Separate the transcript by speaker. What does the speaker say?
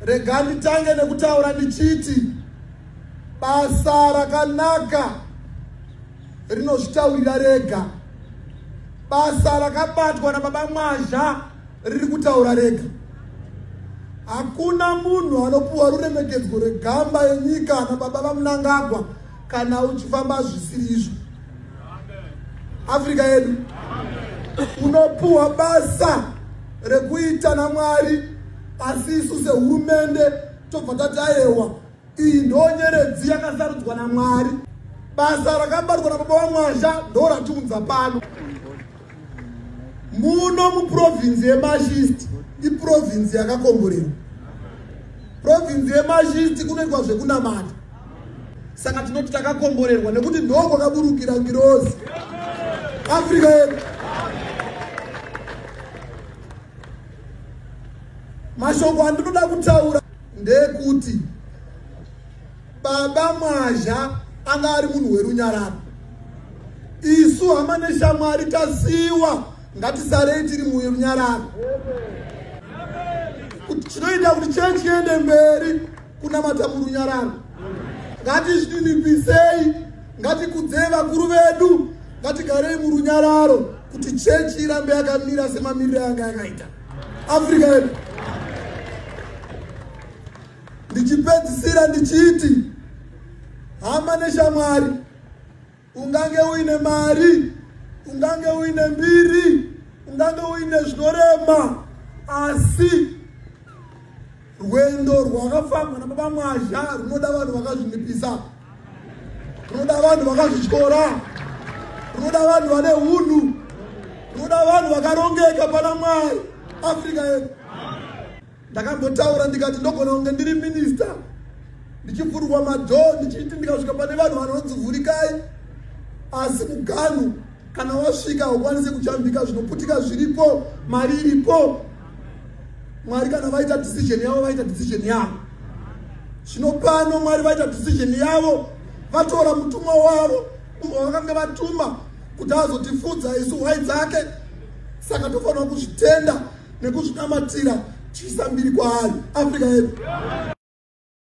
Speaker 1: rega nditange nekutaura ndichiti basa rakanaka rinozvitaurira rega basa rakabatwa nababa mwazha riri kutaura rega hakuna munhu anopuwa ruremekedzwo rwegamba yenyika nababa vamunangagwa kana uchifamba zvisiri izvo afrika yedu unopuhwa basa rekuita namwari asi isu sehurumende tobva tati ayewa iyi ndonyeredzi yakasarudzwa namwari basa rakabatwa nababa wamwasha ndo ratiunza pano muno muprovinzi yemashisti iprovinzi yakakomborerwa provinzi yemashisti kunoitwa zvekunamata saka tinoti takakomborerwa nekuti ndokwakaburukira ngirozi afrika yedu mashoko andinoda kutaura ndekuti baba mwazha anga ari munhu werunyararo isu hama neshamwari tasiwa ngatisarei tiri murunyararo chinoita kuti chechi yende mberi kunamata murunyararo ngatizvininipisei ngatikudzei vakuru vedu ngatigarei murunyararo kuti chechi irambe yakamira semamiriro yanga yakaita africa yedu ndichipedzisira ndichiti hama neshamwari Ungange uine mari, ungange uine mbiri, ungange uine zvinorema, asi rwendo rwakafambwa nababa mwazha runoda vanhu vakazvinipisa, runoda vanhu vakazvityora, runoda vanhu vane hunhu, runoda vanhu vakarongeka pana Mwari. Africa yedu ndakambotaura ndikati ndogona kunge ndiri minista ndichivhurwa madhoo ndichiti ndikasvika pane vanhu vanonzi vhurikai asi muganhu kana wasvika haukwanisi kujambika zvinoputika zviripo mari iripo mwari kana vaita decision yavo vaita decision yavo zvino pano mwari vaita decision yavo vatora mutumwa wavo umwe vakange vatuma kuti azotifunza isu hwai dzake saka tofanira kuzvitenda nekuzvinamatira tichiisa mbiri kwaari africa yedu